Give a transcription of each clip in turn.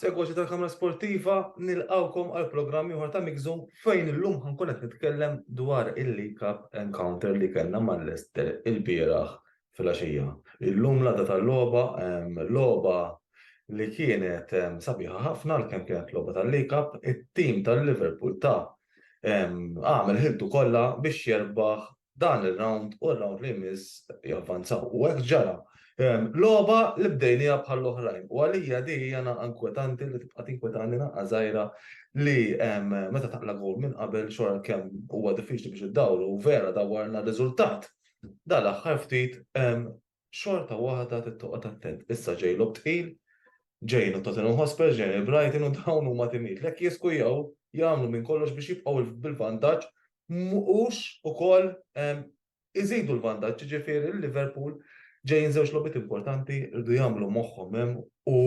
Segwaċi tal-Kamra Sportiva, nilqawkom għal programm ieħor ta' Mixu fejn illum ħankun qed nitkellem dwar il-League Cup encounter li kellna mal-Leicester il-bieraħ fil-għaxija. Illum l-għada tal-logħba, logħba li kienet sabiħa ħafna l kemm kienet logħba tal-League Cup, it-tim tal-Liverpool ta' għamel ħiltu kollha biex jerbaħ dan ir-rawnd u r-rawnd li jmiss javvanzaw. U hekk ġara. Logħba li bdejniha bħall-oħrajn u għalija din hija naqgħa inkwetanti li tibqa' tinkwetani naqgħa żgħira li meta taqla' gowl minn qabel xorta kemm huwa diffiċli biex iddawru u vera dawwarna riżultat dal-aħħar ftit xorta waħda trid toqgħod attent. Issa ġej lob tqil, ġejn u Tottenham Hotspur, ġejn il-Brighton u dawn huma timijiet lek jiskujaw jagħmlu minn kollox biex jibqgħu bil-vantaġġ mhux ukoll ehm, iżidu l-vantaġġ, jiġifieri l-Liverpool ġejjin żewġ logħbiet importanti rridu jagħmlu moħħhom hemm u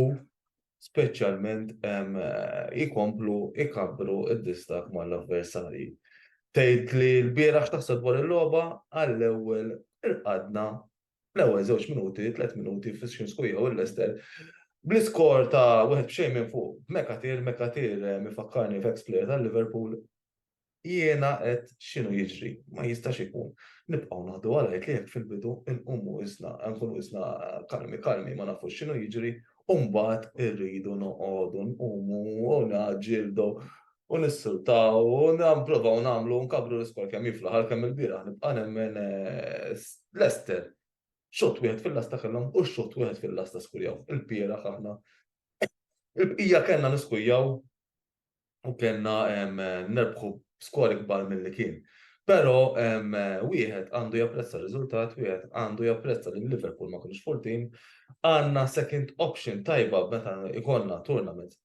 speċjalment jkomplu jkabbru d-distakk mal-avversarji. Tgħid li l-bieraħ x'taħseb dwar il-logħba għall-ewwel irqadna l-ewwel żewġ minuti, tliet minuti fis-Xinskui jew il-Leicester bl-iskor ta' wieħed b'xejn minn fuq. Mekatir, Mekatir mifakkarni f'ex-player tal-Liverpool Jiena qed x'inhu jiġri, ma jistax ikun. Nibqgħu naħdu għal għid li hekk fil-bidu nqumu isna, nkunu isna kalmi kalmi ma nafux x'inhu jiġri, u mbagħad irridu noqogħdu nqumu u naġġieldu u nissultaw u nipprovaw nagħmlu nkabru l-iskol kemm jiflaħ għal kemm il-bieraħ nibqa' nemmen eh, Lester. Xott wieħed fil-lasta kellhom u xott wieħed fil-lasta skurjaw. Il-bieraħ aħna il-bqija kellna niskujjaw u kellna nerbħu skor ikbar mill-li kien. Pero wieħed għandu japprezza r-riżultat, wieħed għandu japprezza li Liverpool ma kienx full team, għandna second option tajba meta ikonna tournament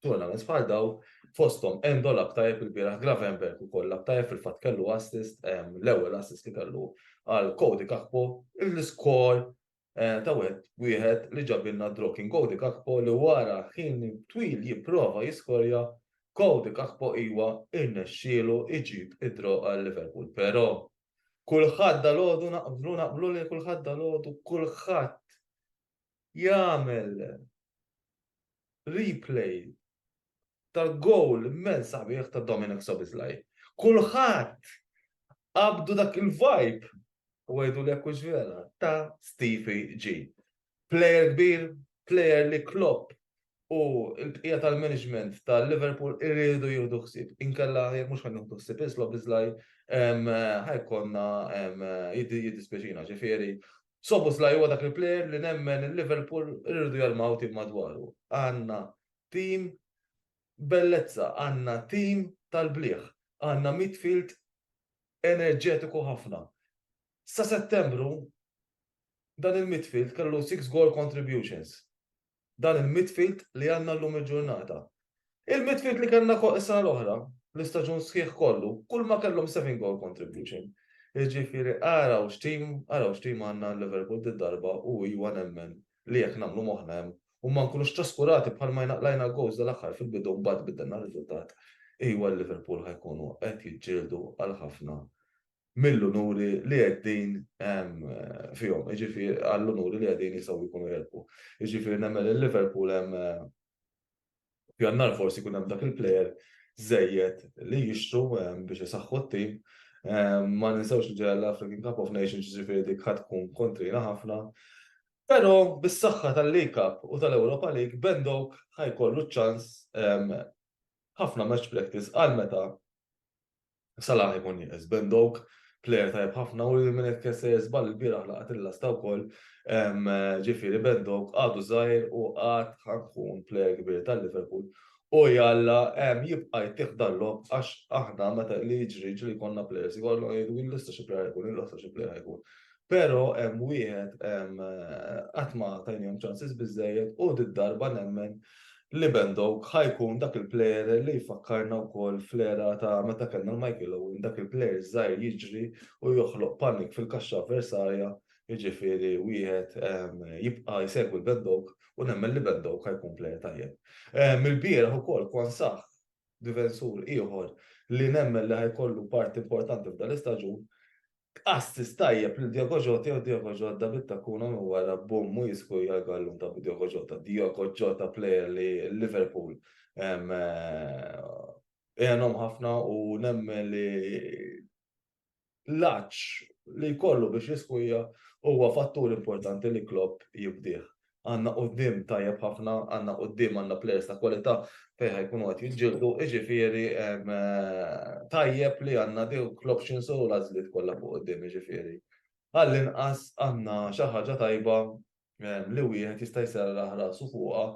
tournament bħal daw fostom Endol abtajb il-biraħ Gravenberg u koll abtajb fil-fat kellu assist l-ewwel assist li kellu għal Cody Kakpo l-iskor ta' wet wieħed li ġabilna Drokin Cody Gakpo li wara ħin twil jipprova jiskorja, Cody Gakpo iwa irnexxielu jġib id-draw għal Liverpool. Però kulħadd dalgħodu naqblu naqblu li kulħadd dalgħodu kulħadd jagħmel replay tal-goal immens sabiħ ta' Dominic Sobislaj. Kulħadd qabdu dak il-vibe u għajdu li jekkux vera ta' Stevie G. Player kbir, player li Klopp u l-bqija tal-management tal-Liverpool irridu jieħdu ħsieb. Inkella jekk mhux ħan jieħdu ħsieb islob iżlaj ħajkonna jiddispjaċina ġifieri Szoboszlai huwa dak il-plejer li nemmen li Liverpool iridu jarmaw tim madwaru. Għandna tim bellezza, għandna tim tal-bliegħ, għandna midfield enerġetiku ħafna. Sa Settembru dan il-midfield kellu six goal contributions. dan il-midfield li għandna llum il-ġurnata. Il-midfield li kellna fuq is-sena l-oħra, l-istaġun sħiħ kollu, kull ma kellhom 7 goal contribution. Jiġifieri araw x'tim, araw x'tim għandna Liverpool did-darba u iwa nemmen li jekk nagħmlu moħħna hemm u ma nkunux traskurati bħal ma jnaqlajna goals dal-aħħar fil-bidu mbagħad biddilna r-riżultat, iwa Liverpool ħajkunu qed jiġġieldu għal ħafna mill-unuri li qegħdin fihom, jiġifieri għall-unuri li qegħdin jistgħu jkunu jirbħu. Jiġifieri nemmen li Liverpool hemm pjannar forsi jkun hemm dak il-plejer żejjed li jixtru biex isaħħu t-tim. Ma ninsewx li ġejja l-African Cup of Nations jiġifieri dik ħadd tkun kontrina ħafna. Però bis-saħħa tal-League Cup u tal-Europa League, Ben Doak ħajkollu ċ-ċans ħafna match practice għal meta Salah ikun jeqes Ben Doak, plejer tajjeb ħafna u li minn hekk se jiżball il-bieraħ laqgħet il-lasta wkoll. Ġifieri Ben Doak għadu żgħir u għad ħankun plejer kbir tal-Liverpool. U jalla jibqa' jtih dal-logħob għax aħna meta li jiġri jiġri jkollna plejers jkollhom jgħidu l-lista xi plejer ħajkun, il-lista xi plejer ħajkun. Pero hemm wieħed qatt ma tajnihom ċansis biżejjed u darba nemmen li Bendok ħajkun dak il-plejer li jfakkarna wkoll fl-era ta' meta kellna l-Michael Owen dak il-plejer żgħir jiġri u joħloq panik fil-kaxxa avversarja jiġifieri wieħed jibqa' jsegwi l-Bendok u nemmen li Bendok ħajkun plejer tajjeb. Mill-bieraħ ukoll Kwan Sah difensur ieħor li nemmen li ħajkollu parti importanti f'dan l-istaġun B'qastis tajjeb lil Diogo Jota jew Diogo Jodda bit-takkuna minn wara bumm u jiskuja l-gallun ta' Diogo Jota. Diogo Jota plejer li Liverpool għenhom ħafna u nemmen li l-għatx li jkollu biex jiskuja huwa fattur importanti li Klopp jibdih. għandna quddiem tajjeb ħafna, għandna quddiem għandna players ta' kwalità fejn ħajkunu qed jiġġieldu, jiġifieri tajjeb li għandna dawk l-options u l-għażliet kollha fuq quddiem jiġifieri. Għall-inqas għandna xi ħaġa tajba li wieħed jista' jserraħ rasu fuqha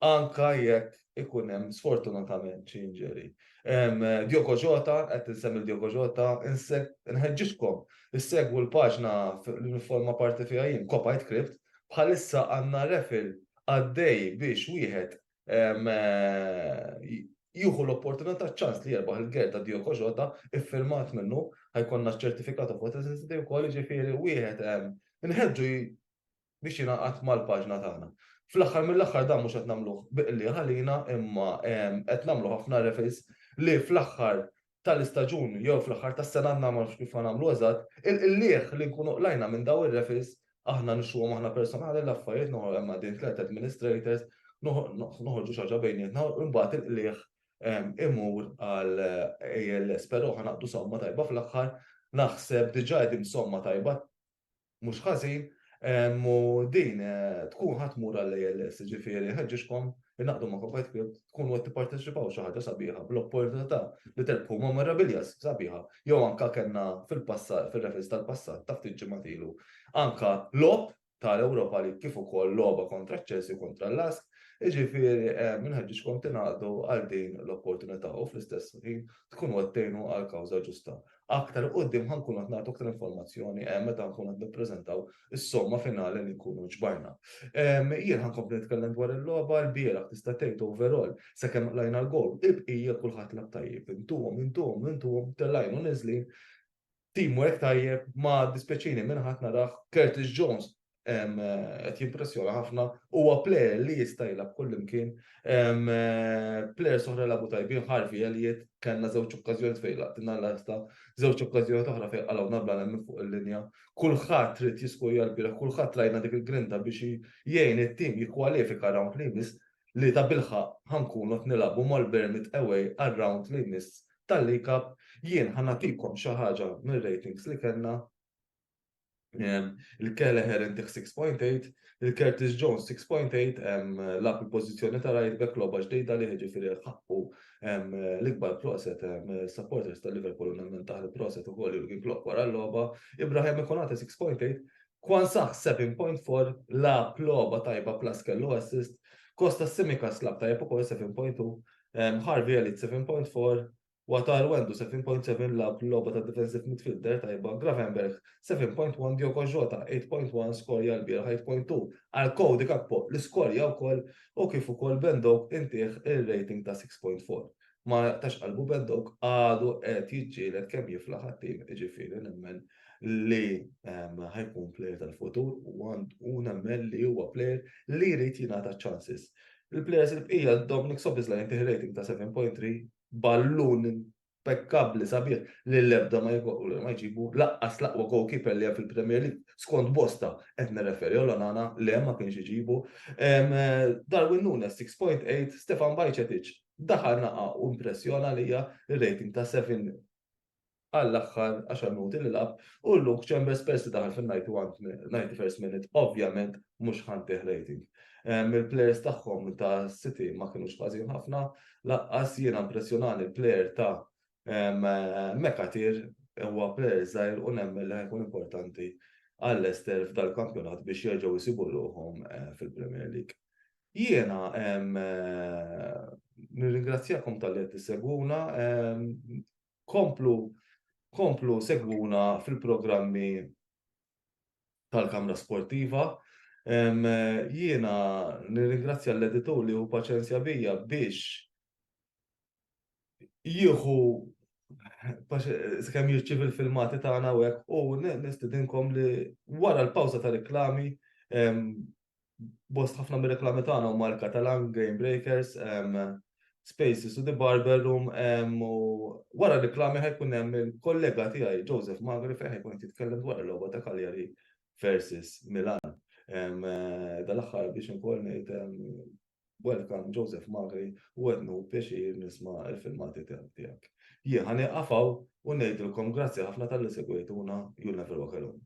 anke jekk ikun hemm sfortunatament xi injury. Djoko Ġota, qed tinsemmi Djoko Ġota, nħeġġiġkom, issegwu l-paġna li nifforma parti fiha jien, Kopajt Kript, bħalissa għandna refil għaddej biex wieħed jieħu l-opportunità ċans li jerbaħ il-ger ta' Djoko Ġota iffirmat minnu ħajkonna ċertifikatu fuq is-sensitiv ukoll ġifieri wieħed nħeġġu biex jingħaqad mal-paġna tagħna. Fl-aħħar mill-aħħar dan mhux qed nagħmluh bi qligħ għalina imma qed nagħmlu ħafna reference li fl-aħħar tal-istaġun jew fl-aħħar tas-sena għandna ma nafx kif nagħmlu eżatt, il-qligħ li nkunu qlajna minn dawn ir-reference aħna nixtruhom aħna personali l-affarijiet noħorġu hemm għaddejn tliet administrators, noħorġu xi ħaġa bejnietna u mbagħad il-qligħ imur għal ALS, però ħa naqdu somma tajba fl-aħħar naħseb diġà qegħdin somma tajba mhux ħażin u din tkun ħa tmur għall-ALS, ġifieri nħeġġiġkom innaqdu ma' Kofajt Club tkunu qed tipparteċipaw xi ħaġa sabiħa bl-opportunità li terbħu memorabilia sabiħa jew anke kellna fil-passat fir-referenz tal-passat ta' ftit ġimgħat ilu anke logħob tal-Ewropa League kif ukoll logħba kontra ċ-Chelsea u kontra l-Lask Iġifieri eh, minħeġġiġkom tingħaqdu għal din l-opportunità u fl-istess ħin tkunu qed tgħinu għal kawża ġusta. Aktar 'il quddiem ħa nkunu qed nagħtu aktar informazzjoni meta nkunu qed nippreżentaw is-somma finali li nkunu ġbarna. Jien ħa nkompli nitkellem dwar il-logħba, ilbieraħ tista' tgħid overall sakemm qlajna l-gowl, il-bqija kulħadd lagħab tajjeb. Intuhom, intuhom, intuhom, tellgħin u niżlin, teamwork tajjeb, ma dispjaċini minn ħadd narah Curtis Jones qed jimpressjona ħafna, huwa plejer li jista' jilgħab kullimkien. Plejer soħra labu tajbin ħarfi Elliot, kellna żewġ okkażjoni fejn laqtina l-lasta, żewġ okkażjoni oħra fejn qalgħu nabla hemm fuq il-linja. Kulħadd trid jiskurja l-bira, kulħadd rajna dik il-grinta biex jgħin it-tim jikkwalifika round li jmiss li ta' bilħa ħankunu qed nilagħbu mal-Bermit away għar-round li jmiss tal-League Cup. Jien ħanatikom xi ħaġa mir-ratings li kellna Il-Kelleher intiħ 6.8, il-Curtis Jones 6.8, lab il-pozizjoni ta' right back loba ġdejda li ġifiri ħakku l-ikbar proset supporters ta' Liverpool u nemmen taħ il-proset u koll Jurgen Klopp wara l-loba. Ibrahim Ikonate 6.8, Kwan Saħ 7.4, lab loba tajba plus kellu assist, Kosta Simika slab tajba u koll 7.2, Harvey Elite 7.4, Wataru għandu 7.7 lagħab logħba ta' defensive midfielder tajba, Gravenberch 7.1, Diogo Jota 8.1 skorja lbieraħ 8.2 għal Cody Gakpo li skorja wkoll u kif ukoll Ben Doak intieh ir-rating ta' 6.4. Ma jaqtax qalbu Ben Doak għadu qed jiġġieled kemm jiflaħ għat-tim jiġifieri nemmen li ehm, ħajkun plejer tal-futur u nemmen li huwa plejer li jrid jingħata ċansis. Il-players il-bqija Dominic Sobisla jintih rating ta' 7.3, ballun impekkabbli sabiħ li l-ebda ma jġibu laqqas l-aqwa goalkeeper li hemm fil-Premier League. Skont Bosta qed nirreferi għal Onana le ma kienx iġibu. Darwin Nunes 6.8, Stefan Bajcetic daħal naqa' u impressjona lija rating ta' 7 għall-aħħar għaxar minuti li lagħab u Luke Chambers peress li daħal fin-91st minute ovvjament mhux ħa ntih rating. Ehm, il-players tagħhom ta' City ma kinux ħażin ħafna, laqqas jiena impressjonani l-player ta' ehm, Mekatir huwa player żgħir u nemmen li ħajkun importanti għall-Ester f'dal-kampjonat biex jerġgħu jsibu ruħhom eh, fil-Premier League. Jiena ehm, eh, nirringrazzjakom tal-li qed tissegwuna, komplu komplu segwuna fil-programmi tal-Kamra Sportiva. Jiena nirringrazzja l-editur li hu paċenzja bija biex jieħu kemm jirċiv il-filmati tagħna u hekk u nistidinkom li wara l-pawża ta' reklami bost ħafna mir-reklami tagħna huma l-Catalan Game Breakers, Spaces u The Barber Room u wara reklami ħajkun hemm il-kollega tiegħi Joseph Magri fejn ħajkun qed jitkellem dwar il-logħba ta' Cagliari versus Milan. Eh, dal-aħħar biex inkoll ngħid welcome Joseph Magri u għednu pjaċir nisma' il-filmati tiegħek. Jien ħani qafaw u ngħidilkom grazzi ħafna tal-li segwejtuna You'll Never Walk Alone.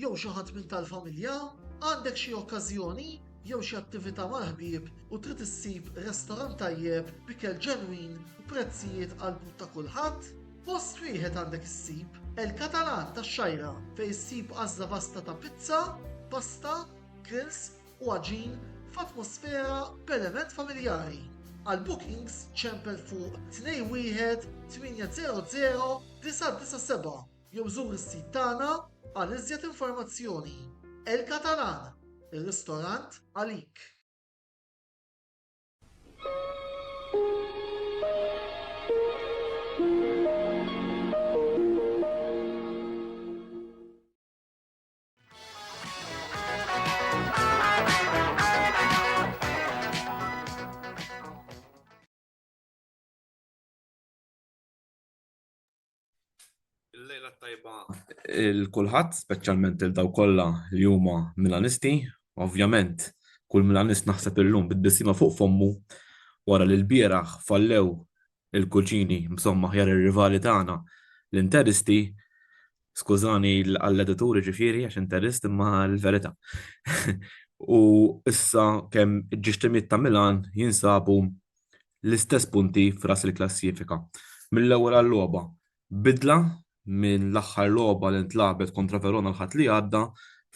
jew xi ħadd minn tal-familja? Għandek xi okkażjoni jew xi attività mal-ħbieb u trid issib restorant tajjeb b'ikel ġenwin u prezzijiet għall-but ta' kulħadd? Post wieħed għandek issib, El Catalan tax-Xgħajra, fejn issib għażla vasta ta' pizza, pasta, grills u għaġin f'atmosfera b'element familjari. Għal bookings ċempel fuq 21800 997. Jew żur is-sit tagħna għal iżjed informazzjoni. El Catalan, ir-ristorant għalik! Il-lejla tajba il-kulħadd, speċjalment il daw kollha li huma Milanisti. Ovvjament, kull Milanist naħseb illum bit-tbissima fuq fommu wara li l-bieraħ fallew il-kuġini msomma ħjar ir-rivali tagħna l-Interisti. Skużani għall-edituri ġifieri għax interist imma l-verità. U issa kemm ġixtimiet ta' Milan jinsabu l-istess punti f'ras il-klassifika. Mill-ewwel għal-logħba, bidla minn l-aħħar logħba li ntlagħbet kontra Verona l-Ħadd li għadda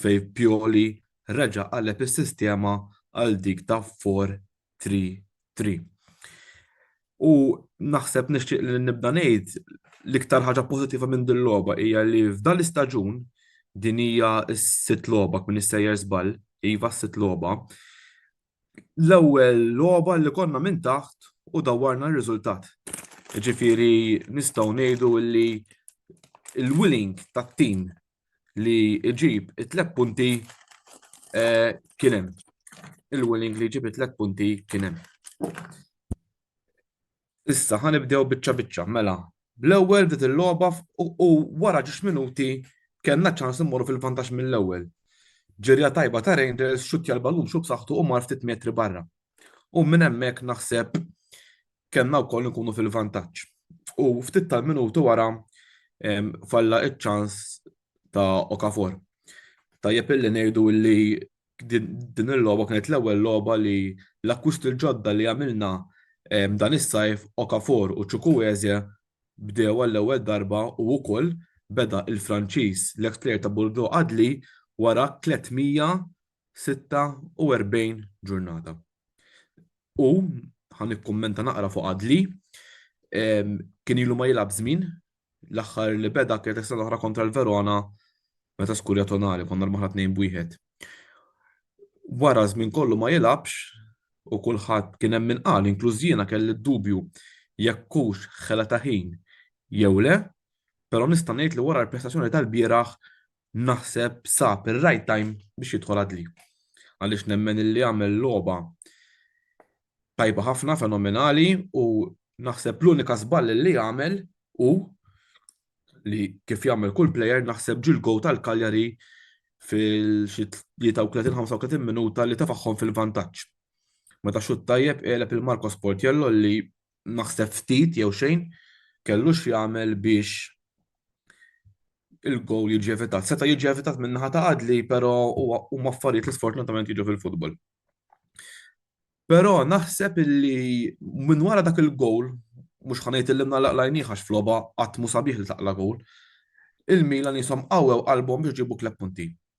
fejn Pioli reġa' qaleb is-sistema għal dik ta' 4 tri tri. U naħseb nixtieq li nibda ngħid l-iktar ħaġa pożittiva minn din logħba hija li f'dan l-istaġun din hija s-sitt logħba minn is-sejjer żball, iva s-sitt logħba. L-ewwel logħba li konna minn taħt u dawwarna r-riżultat. Ġifieri nistgħu ngħidu li l-willing tat-tim li jġib it-tlet punti eh, kien hemm. Il-Willing li jġib it-tlet punti kien hemm. Issa ħanibdew biċċa biċċa, mela. Bl-ewwel bdiet il-logħba u wara ġiex minuti kellna ċans immorru fil-vantaġġ mill-ewwel. Ġirja tajba ta' Rangers xutja l-balun xub saħħtu u mar ftit metri barra. U minn hemmhekk naħseb kellna wkoll nkunu fil-vantaġġ. U ftit tal-minuti wara falla iċ-ċans ta' Okafor. Tajjeb illi ngħidu li din il-logħba kienet l-ewwel logħba li l-akkwist il-ġodda li għamilna dan is-sajf Okafor u Ċukuweze bdew għall-ewwel darba u wkoll beda il-Franċiż l-eks plejer ta' Bordeaux Adli wara 300 46 ġurnata. U ħan ikkummenta naqra fuq Adli, kien ilu ma jilab żmien, l-aħħar li beda kienet is-sena oħra kontra l-Verona meta skurja tonali konna l-maħna tnejn bwieħed. Wara żmien kollu ma jilabx u kulħadd kien hemm min qal inkluż jiena kelli d-dubju jekk hux ħela ta' ħin jew le, però nista' ngħid li wara l-prestazzjoni tal-bieraħ naħseb sab ir-right time biex jidħol għadli. Għaliex nemmen illi għamel logħba tajba ħafna, fenomenali u naħseb l-unika żball li għamel u li kif jagħmel kull player naħseb ġil go tal-Kaljari fil-35 minuta li tafaħħom fil-vantaġġ. Meta xut tajjeb għeleb il-Marcos Portiello li naħseb ftit jew xejn kellu x'jagħmel biex il-gowl jiġi evitat. Seta' jiġi evitat minn naħa ta' għadli, però huma affarijiet li sfortunatament jiġu fil-futbol. Però naħseb illi minn wara dak il-gowl, mhux ħanejt illi nagħlaq lajniħ għax floba qatt mu sabiħ li taqla gowl, il-Milan jisom qawwew qalbhom biex ġibu kleb punti.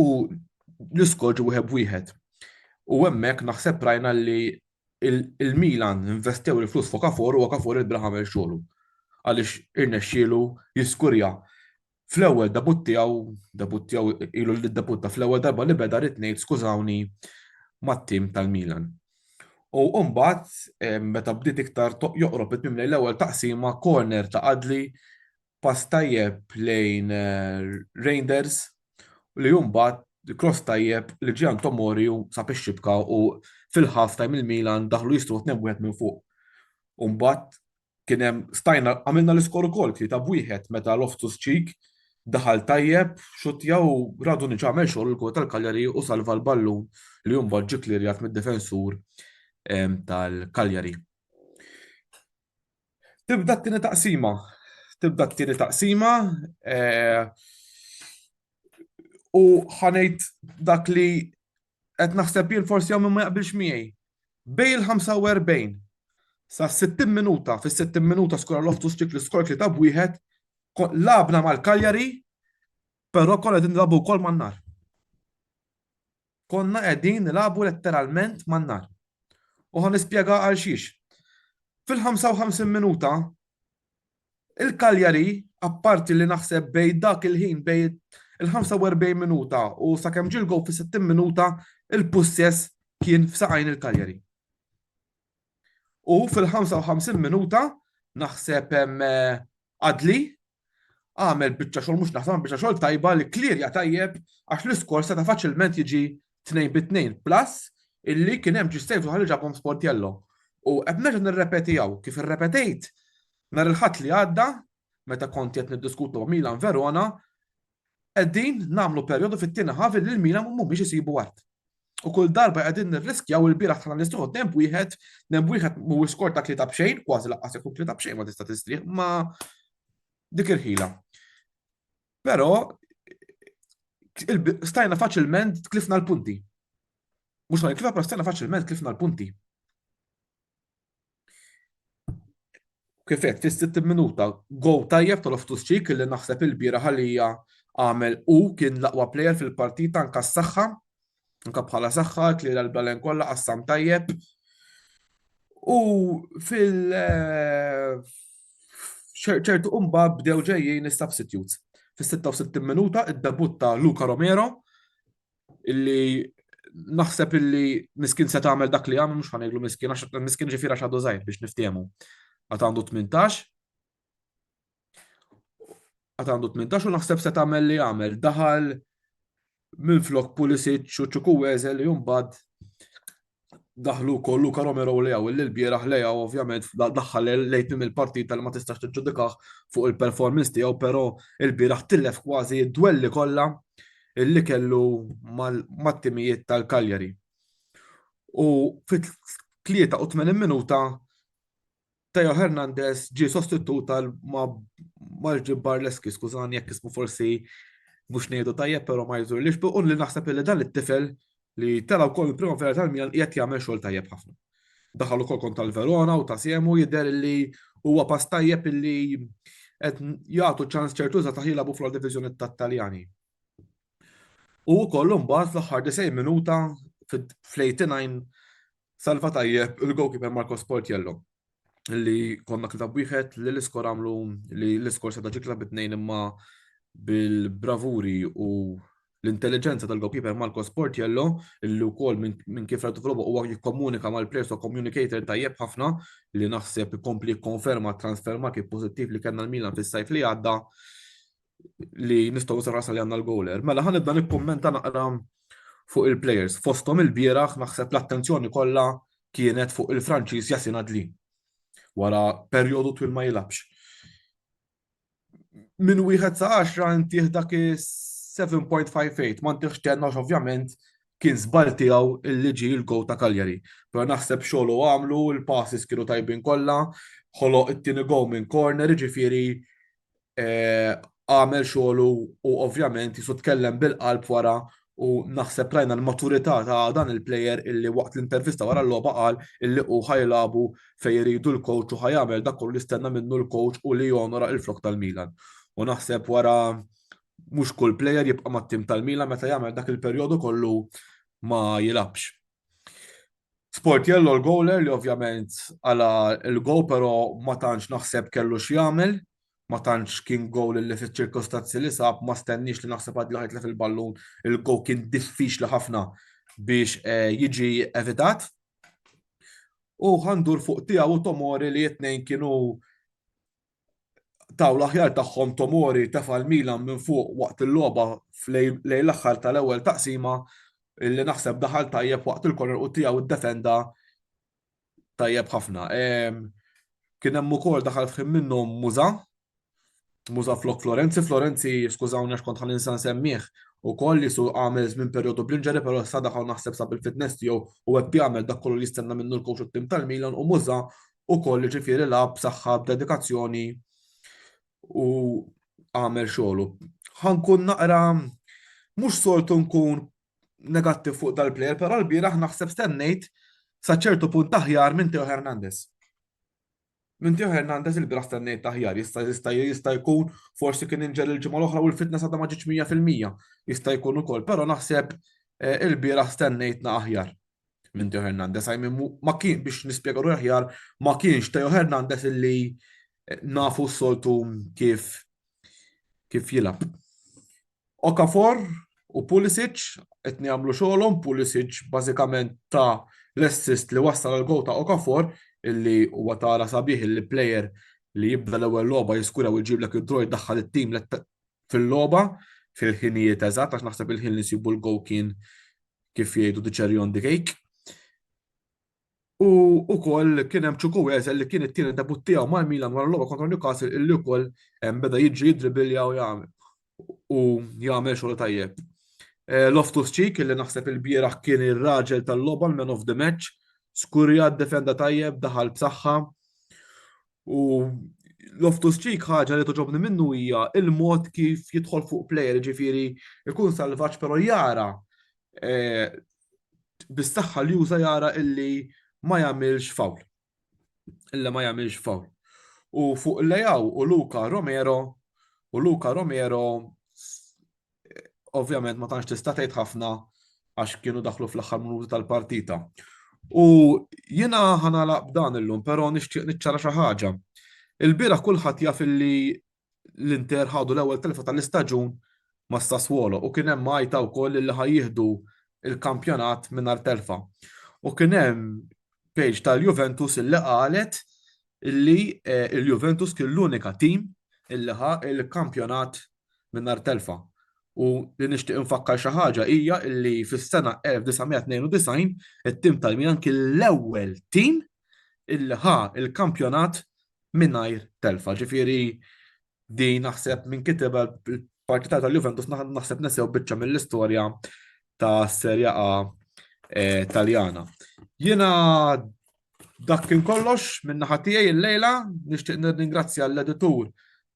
u l-iskoġ wieħed b'wieħed. U hemmhekk naħseb rajna li il-Milan investew il-flus fuq Okafor u Okafor il-bla ħamel xogħlu. Għaliex irnexxielu jiskurja fl-ewwel debut tiegħu, debut tiegħu ilu li debutta fl-ewwel darba li beda rid ngħid skużawni mat-tim tal-Milan. U mbagħad eh, meta bdiet iktar joqrob it-tmiem l-ewwel taqsima corner ta' Adli pass tajjeb lejn Reinders li mbagħad cross tajjeb li Gian Tomori u sab ix-xibka u fil-half time il-Milan daħlu jistru 2-1 minn fuq. U mbagħad kien hemm stajna għamilna l-iskor ukoll tlieta b'wieħed meta Loftus Cheek daħal tajjeb, xuttja u Radunic għamel xogħol il-gol tal-Cagliari u salva l-ballun li mbagħad ġie klirjat mid-difensur tal-Cagliari. Tibda t-tieni taqsima. Tibda t-tieni taqsima eh, u ħanejt dak li qed naħseb jien forsi hawn ma jaqbilx miegħi. Bej il-45 sa 60 minuta, fis-60 minuta skora loftu stik li skor li ta' wieħed, labna mal-Kaljari, però kolla din drabu wkoll man-nar. Konna qegħdin nilagħbu letteralment man-nar. U ħa nispjega għalxiex. Fil-55 minuta, il-Cagliari, apparti li naħseb bej dak il-ħin bej il-45 minuta u sakemm ġil gow fis-60 minuta, il-pussess kien f'saqajn il-Cagliari. U fil-55 minuta, naħseb eh, Adli, Għamel biċċa xogħol mhux naħseb biċċa xogħol tajba li klirja tajjeb għax l-iskor seta' faċilment jiġi tnejn bi tnejn plus illi kien hemm ġistejf uħal ġabhom sportjello. U qed nerġa' nirrepeti hawn kif irrepetejt nhar il-ħadd li għadda meta kont qed niddiskutu Milan Verona Qegħdin nagħmlu perjodu fit-tieni half li l-Milan mhumiex isibu art. U kull darba qegħdin nirriskjaw il-bieraħ tħallna nistrieħu demb wieħed, demb wieħed mhuwiex skor ta' tlieta b'xejn, kważi laqqas jekk hu tlieta b'xejn ma tista' tistrieħ ma' dik il-ħila. Però stajna faċilment tlifna l-punti. Mhux ma nitlifha, però stajna faċilment tlifna l-punti. Kifet, fis-60 minuta, gow tajjeb tal-Oftus Ċik li naħseb il-bira ħalija għamel u kien l-aqwa plejer fil-partita anka s-saxħa, anka bħala saxħa, klira l-balen kollha qassam tajjeb. U fil- eh, ċertu umba bdew ġejjin is-substitutes. Fis-66 minuta id-debutta Luca Romero illi naħseb illi miskin se tagħmel dak li għamel mhux ħaneglu miskin għax miskin ġifiera x'għadu żgħir biex niftehmu. Għad għandu 18 għad għandu 18 u naħseb se tagħmel li għamel daħal minn flok Pulisic u ċuku Wezel li jumbad daħlu wkoll Luka Romero Leaw li l-bieraħ Leaw ovvjament daħħal lejt minn il-partit tal ma tistax tiġġudikah fuq il-performance tiegħu però il-bieraħ tilef kważi d-dwelli kollha illi kellu mat-timijiet tal-Kaljari. U fit-83 minuta Theo Hernandez ġie sostitut għal Marġi Barleski, skużani jekk ismu forsi mhux ngħidu tajjeb però ma jżur li xbuqun li naħseb li dan it-tifel li tela' wkoll il-primavera tal-Milan qiegħed jagħmel xogħol tajjeb ħafna. Daħal ukoll kont tal-Verona u ta' Siemu jidher li huwa pass tajjeb illi qed jagħtu ċans ċertu za taħila bu fl-diviżjoni tat-Taljani. U wkoll imbagħad fl-aħħar 90 minuta fl-89 Salva tajjeb il-goalkeeper Marco Sportiello li konna kitab wieħed li l-iskor għamlu li l-iskor seta' ġikla bit-tnejn imma bil-bravuri u l-intelligenza tal-goalkeeper Marco Sportiello li wkoll minn kif rajtu fil-logħba huwa jikkomunika mal-players u communicator tajjeb ħafna li naħseb ikompli jikkonferma transfer market pożittiv li kellna l-Milan fis-sajf li għadda. li nistgħu sarasa li għandna l-goaler. Mela ħan nibda nikkummenta naqra fuq il-players. Fosthom il-bieraħ naħseb l-attenzjoni kollha kienet fuq il-Franċiż Jasin Adli. Wara perjodu twil ma jilabx. Min wieħed sa 10 intih dak 7.58 ma ntieħx tenna ovvjament kien żball tiegħu li ġi l-go ta' Kaljari. Però naħseb xogħlu għamlu, il-passes kienu tajbin kollha, ħoloq it-tieni go minn corner, ġifieri għamel xogħlu u ovvjament jisu tkellem bil-qalb wara u naħseb rajna l-maturità ta' dan il-player illi waqt l-intervista wara l-logħba qal illi hu ħajlabu fejn iridu l-coach u ħajamel dak kollu jistenna minnu l-coach u li jonora il-flok tal-Milan. U naħseb wara mhux kull player jibqa' mat-tim tal-Milan meta jagħmel dak il-perjodu kollu ma jilabx. Sportiello l-goaler li ovvjament għala l-go però ma tantx naħseb kellu x'jagħmel, ma tantx kien goal li fiċ-ċirkostanzi li sab ma stenniex li naħseb għad li ħajtlef il-ballun, il-go kien diffiċli ħafna biex eh, jiġi evitat. U għandur fuq tiegħu Tomori li t-tnejn kienu taw l-aħjar tagħhom Tomori tefa' l-Milan minn fuq waqt il-logħba lejn l-aħħar tal-ewwel taqsima li naħseb daħal tajjeb waqt il-korner u tiegħu ddefenda tajjeb ħafna. Kien hemm ukoll daħal fħim minnhom Muża, Muża flok Florenzi, Florenzi skużawni għax kont ħaninsa nsemmih ukoll li su għamel żmien perjodu bl-inġeri però sa daħal naħseb sa bil-fitness tiegħu u qed jagħmel dak kollu li jistenna minnu l-kowx tim tal-Milan u Muża ukoll jiġifieri lagħab b'saħħa b'dedikazzjoni u għamel xogħlu. Ħankun naqra mhux soltu nkun negattiv fuq dal-plejer, però l-bieraħ naħseb stennejt sa ċertu punt aħjar minn Teo Hernandez. Minn Teo Hernandez il-bieraħ stennejt aħjar, jista' jista' jista' jkun forsi kien inġel il-ġimgħa l-oħra u l-fitness għadha ma ġietx 100%. Jista' jkun ukoll, però naħseb eh, il-bieraħ stennejtna aħjar. minn Teo Hernandez. I mean, ma kien biex nispjega ruħi aħjar, ma kienx Teo Hernandez illi eh, nafu s-soltu kif kif jilab. Okafor u Pulisic qed jagħmlu xogħolhom, Pulisic bażikament ta' l-assist li wassal għal gol ta' Okafor illi huwa tara sabiħ illi player li jibda l-ewwel logħba jiskura u jġiblek id-droj daħħal it-tim fil-logħba fil-ħinijiet eżatt għax naħseb il-ħin li nsibu l-go kien kif jgħidu the cherry on the cake. U ukoll kien hemm ċuku Wezel li kien it-tieni debut tiegħu mal-Milan wara l-logħba kontra Newcastle illi wkoll beda jiġri jidribilja u jagħmel u jagħmel xogħol tajjeb. Eh, Loftus Cheek illi naħseb il-bieraħ kien ir-raġel tal-logħba l-man of the match, skurja defenda tajjeb, daħal b'saħħa. U Loftus Cheek ħaġa li toġobni minnu hija il-mod kif jidħol fuq plejer, ġifieri ikun salvaġġ però jara eh, bis-saħħa li juża jara illi ma jagħmilx fawl. Illa ma jagħmilx fawl. U fuq Lejaw u Luka Romero u Luka Romero ovvjament ma tantx tista' tgħid ħafna għax kienu daħlu fl-aħħar minuti tal-partita. U jiena ħanala b'dan illum, però nixtieq niċċara xi ħaġa. Il-bira kulħadd jaf illi l-Inter ħadu l-ewwel telfa tal-istaġun ma' Sassuolo u kien hemm għajta wkoll li ħajjieħdu il-kampjonat mingħajr telfa. U kien hemm page tal-Juventus illi qalet illi l-Juventus kien l-unika tim illi ħa l-kampjonat mingħajr telfa. U li nixtieq infakkar xi ħaġa hija illi fis-sena 1992 it-tim tal-Milan kien l-ewwel tim illi ħa l-kampjonat mingħajr telfa. Ġifieri din naħseb minn kiteb partita tal-Juventus naħseb nesew biċċa mill-istorja ta' Serja A eh, Taljana. Jiena Dak kien kollox minn naħa tiegħi l-lejla, nixtieq nirringrazzja l-editur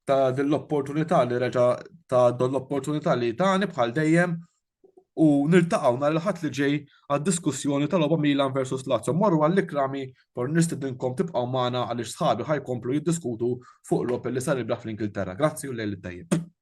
ta' din l-opportunità li reġa' ta' don l-opportunità li tani bħal dejjem u niltaqgħu nhar il-ħadd li ġej għad-diskussjoni tal-logħba Milan versus Lazio. Morru għall-ikrami por nistidinkom tibqgħu magħna għaliex sħabi ħajkomplu jiddiskutu fuq logħob li sar il-braħ fl-Ingilterra. Grazzi u lejl it-tajjeb.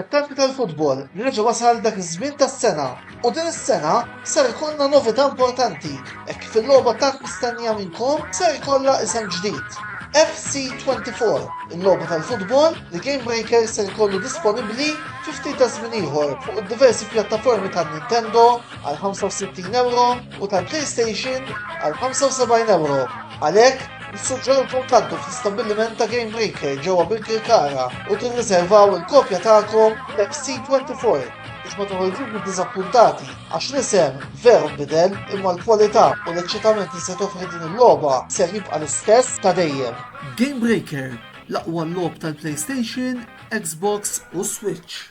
It-temp tal-futbol reġa' wasal dak iż-żmien tas-sena u din is-sena ser ikollna novità importanti hekk kif il-logħba tant mistennija minnkom ser ikollha isem ġdid, FC24, il-logħba tal-futbol li Gamebreaker ser ikollu disponibbli fi ftit taż-żmien ieħor fuq id-diversi pjattaformi ta' Nintendo għal €65 u tal-PlayStation għal €75. Għalhekk, nissuġġerilkom tgħaddu fl-istabbiliment ta' Game Breaker ġewwa Birkirkara u tirriservaw il-kopja tagħkom f'XC24 biex ma toħorġux iddiżappuntati għax l-isem veru nbidel imma l-kwalità u l-eċċitament li se toffri din il-logħba ser jibqa' l-istess ta' dejjem. Game Breaker, l-aqwa logħob tal-PlayStation, Xbox u Switch.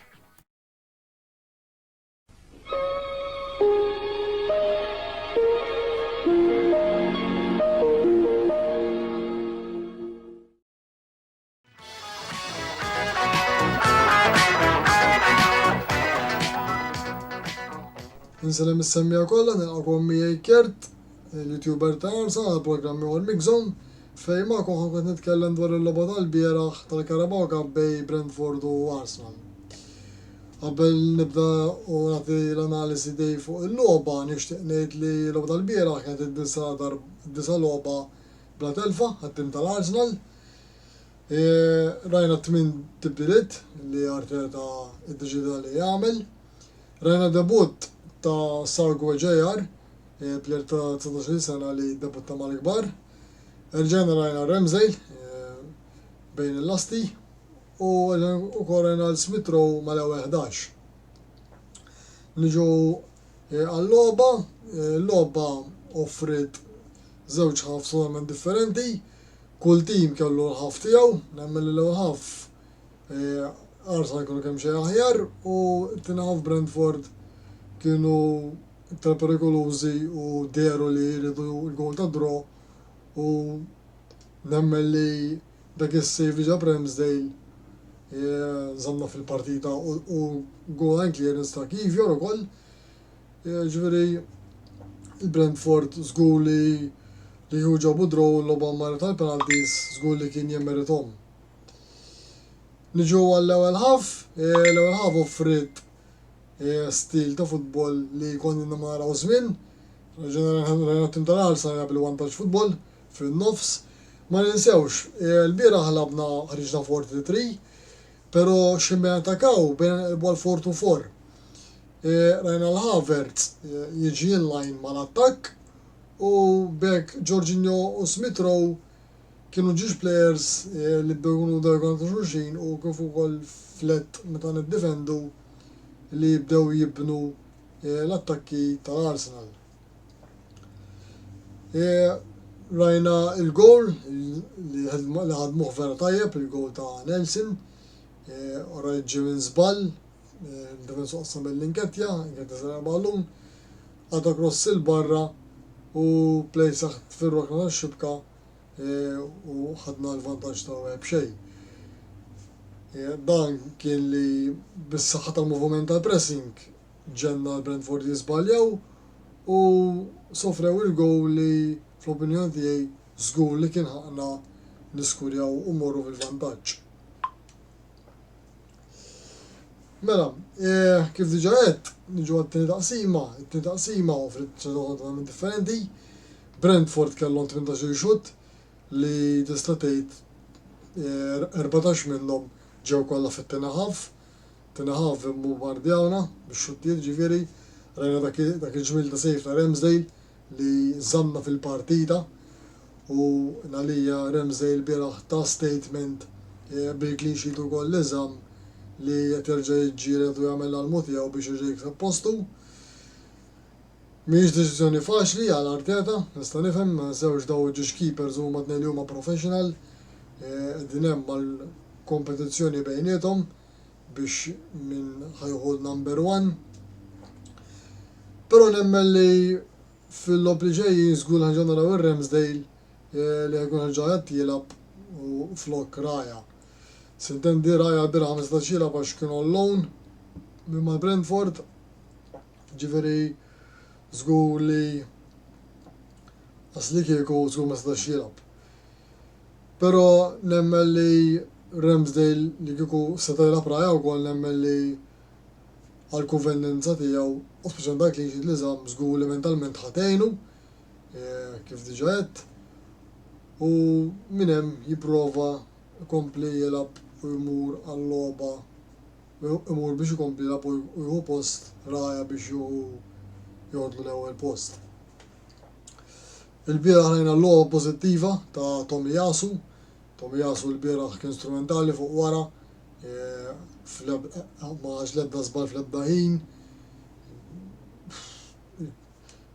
Nselem is-semmija kollha nilqakom miegħi Kert, il-YouTuber ta' Arsa għal programmi għal Mixon, fej ma' koħan qed nitkellem dwar il-logħba tal-bieraħ tal-Carabao Cup bej Brentford u Arsenal. Qabel nibda u nagħti l-analiżi tiegħi fuq il-logħba, nixtieq ngħid li l-logħba tal-bieraħ kienet id-disa' darb, id-disa' logħba bla telfa għat-tim tal-Arsenal. Rajna t-tmien tibdiliet li Arteta iddeċieda li jagħmel. Rajna debutt ta' Sargu Ejear, plejer ta' 19-il sena li ddebutta mal-kbar. Erġajna rajna Ramsdale bejn il-lasti u ukoll Renald Smith Rowe mal-ewwel ħdax. Niġu għal-logħba, l-logħba offriet żewġ ħafs totalment differenti, kull tim kellu l-ħaf tiegħu, nemmen li l-ewwel ħaf Arsenal kienu kemm xejn aħjar u t-tieni ħaf Brentford kienu iktar perikolużi u dehru li jridu l-gowl ta' draw u nemmen li Dak is-save ġab Ramsdale żammna fil-partita u goal-line clearance ta' Kivior ukoll. Ġifieri il-Brentford żgur li li hu ġabu draw u logħba marret tal penalties żgur li kien jemmerithom. Niġu għall-ewwel ħaf, l-ewwel ħaf offrit stil ta' futbol li konni naraw żmien. Ġeneralment rajna tim tal-Arsenal jagħmel vantaġġ futbol, fin-nofs. Ma ninsewx, lbieraħ lagħbna ħriġna four three three, pero' Ximeon Takao bejna nqelbu għal four two four. Rajna l Havertz jiġi in line mal-attakk u b'hekk Jorginho u Smith Rowe kienu ġiex players li bdew ikunu bdew jkunu ta' xulxin u kif ukoll f'lett meta niddifendu li bdew jibnu l-attakki tal-Arsenal. E, rajna il-goal li ħadmuh vera tajjeb, il-goal ta' Nelson, e, rajt ġi minn zbal, e, d-difensu soqsa mill-inketja, inketja zara ballun, għata gross il-barra u play saħt fil-rokna ta' xibka e, u ħadna l-vantaġġ ta' web xej. Dan kien li bis-saħħa tal-moviment tal-pressing Ġenna l-Brentford jiżbaljaw u sofrew il-gowl li fl-opinjoni tiegħi żgur li kien ħaqqna niskurjaw u mmorru fil-vantaġġ. Mela, eh, kif diġa għedt, niġu għat-tieni taqsima, it-tieni taqsima offrit totalment differenti. Brentford kellhom 18 xut li tista' tgħid 14 eh, minnhom ġew kollha fit-tieni ħaf. Tinaħa vimbombardjawna bix-xuttijiet ġifieri rajna dak dak il-ġmiel ta' sejf ta' Ramsdale li żammna fil-partita u għalija Ramsdale lbieraħ ta statement bil-clean sheet u goal li żamm li qed jerġa' jiġġieled u jagħmel l-almu tiegħu biex jerġa' jikseb postu. Mhijiex deċiżjoni faċli għal Arteta, nista' nifhem, ma ninsewx daw iġġieġ keepers huma tnejn li huma professional qegħdin hemm għal kompetizzjoni bejniethom. biex min ħa jieħu l-number one. Però nemmen li fil-logħob li ġejjin żgur li ħanġa naraw ir-Ramsdale eh, li ħajkun ħarġa qed jilgħab flok Raja. Sintendi Raja l-biraħ ma setax jilgħab għax kien on loan minn mal-Brentford. Ġifieri żgur li Asli kieku żgur ma setax jilgħab. Pero nemmen li Ramsdale li kieku seta jilgħab Raya wkoll nemmen li għal kuvendenza tiegħu u speċjalment għal clean sheet li żamm żgur li mentalment ħa tgħinu kif diġa għedt u minn hemm jipprova jkompli jilgħab u jmur għal-logħba imur biex ikompli jilgħab u jieħu post Raya biex jieħu joħodlu l-ewwel post. Ilbieraħ rajna l-logħba pożittiva ta' Tomiyasu. Tomiyasu lbieraħ kien strumentali fuq wara, ma ħax l-ebda żball fl-ebda ħin.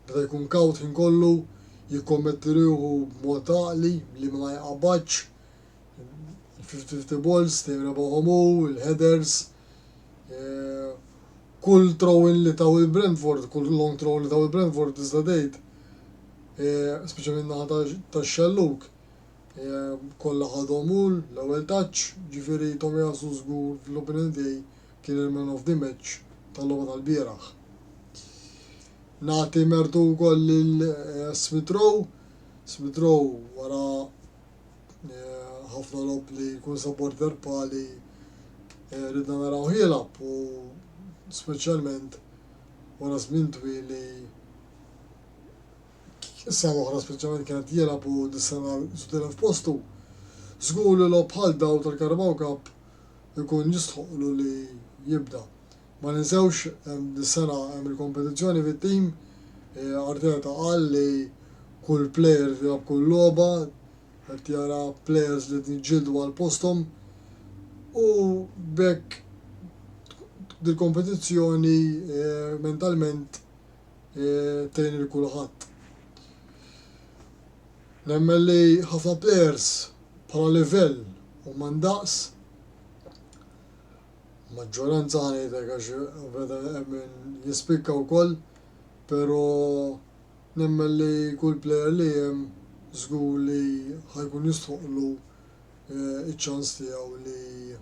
Beda jkun kawt ħin kollu, jikkommetti ruħu b'mod għaqli li ma jqabadx. Il-fifty-fifty balls dejjem rebahom hu, il-headers, kull throw-in li taw il-Brentford, kull long throw li taw il-Brentford tista' tgħid, speċjalment naħa tax-xelluk, kollha ħadhom hu l-ewwel touch, ġifieri Tomiyasu żgur fl-opinjoni tiegħi kien il-man of the match tal-logħba tal-bieraħ. Nagħti mertu wkoll lil Smith Rowe, Smith Rowe wara ħafna lob li jkun sa border pali eh, ridna naraw ħilab u speċjalment wara żmien twil li issa l-oħra speċjalment kienet jilab u dis-sena sudilha f'postu. Żgur li lob bħal daw tal-Karabaw Cup ikun jistħoqlu li jibda. Ma ninsewx dis-sena hemm il-kompetizzjoni fit-tim. Arteta qal li kull player tilgħab kull logħba, qed jara players li qed jiġġieldu għal posthom u b'hekk dil-kompetizzjoni mentalment tgħin lil kulħadd. Nemmen li ħafna players bħala livell huma ndaqs. Maġġoranza ħa ngħidlek għax veda hemm min jispikka wkoll, pero nemmen li kull plejer li hemm żgur li ħa jkun jistħoqqlu ċ-ċans tiegħu li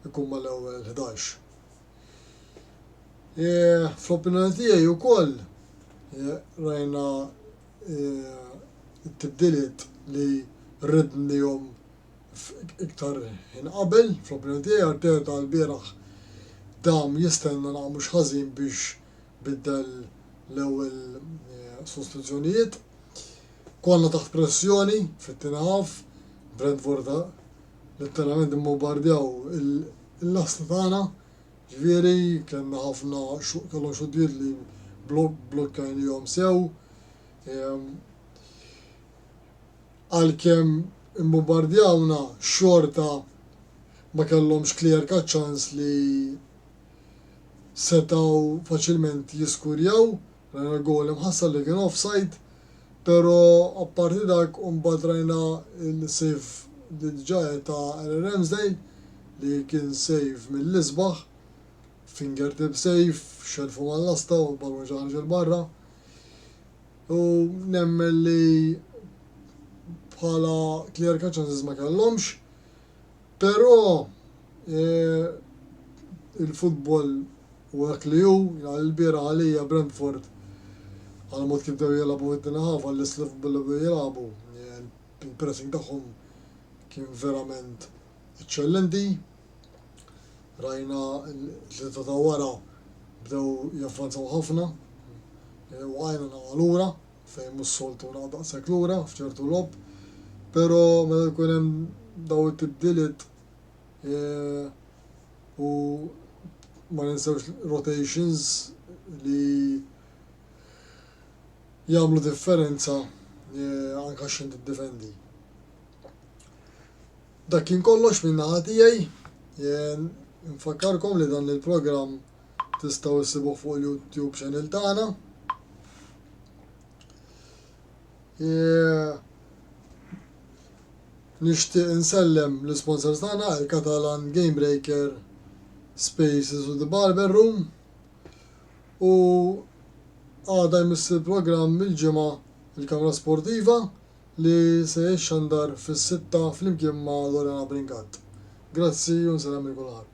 jkun mal-ewwel ħdax. Fl-opinjoni tiegħi wkoll rajna t-tibdiliet li ridnihom iktar ħin qabel, fl-opinjoni tiegħi Arteta lbieraħ dam jistenna naqra mhux ħażin biex biddel l-ewwel eh, sostituzzjonijiet. Konna taħt pressjoni fit-tieni ħaf, Brentford letteralment immobbardjaw il-lasta tagħna, ġifieri kellna ħafna kellhom xuddiet li blokkajn jom sew. Ehm, Għalkemm imbumbardjawna xorta ma kellhomx Klierka ċans li setgħu faċilment jiskurjaw, rajna l-goal imħassar li kien offside, pero apparti dak u mbagħad rajna l-save li diġa għedt ta' Aaron Ramsdale li kien save mill-isbaħ, fingertip save, xellfu mal-lasta u l-ballun ġie ħareġ 'il barra. U nemmen li bħala klierka ċanses ma kellhomx. Però il-futbol u dak li hu, l-bira għalija Brentford għal mod kif dew jilagħbu id-dina ħafa l-isli futbol li jilagħbu. Il-pressing tagħhom kien verament eċċellenti. rajna l-tlieta ta' wara bdew javvanzaw ħafna u għajna naqgħu lura fejn mhux soltu naqgħu daqshekk lura f'ċertu logħob. Però meta jkun hemm daw it-tibdiliet u ma ninsewx rotations li jagħmlu differenza anke x'inti ddifendi. Dak kien kollox min-naħa tiegħi. Infakkarkom li dan il-programm tistgħu issibuh fuq il-YouTube channel tagħna. Nixtieq insellem l-isponsors tagħna il-Catalan Game Breaker Spaces u The Barber Room u għada jmiss il-programm il-ġimgħa il-kamra sportiva li se jixxandar fis-sitta flimkien ma' Lorena Bringat. Grazzi u nsellem lil kulħadd.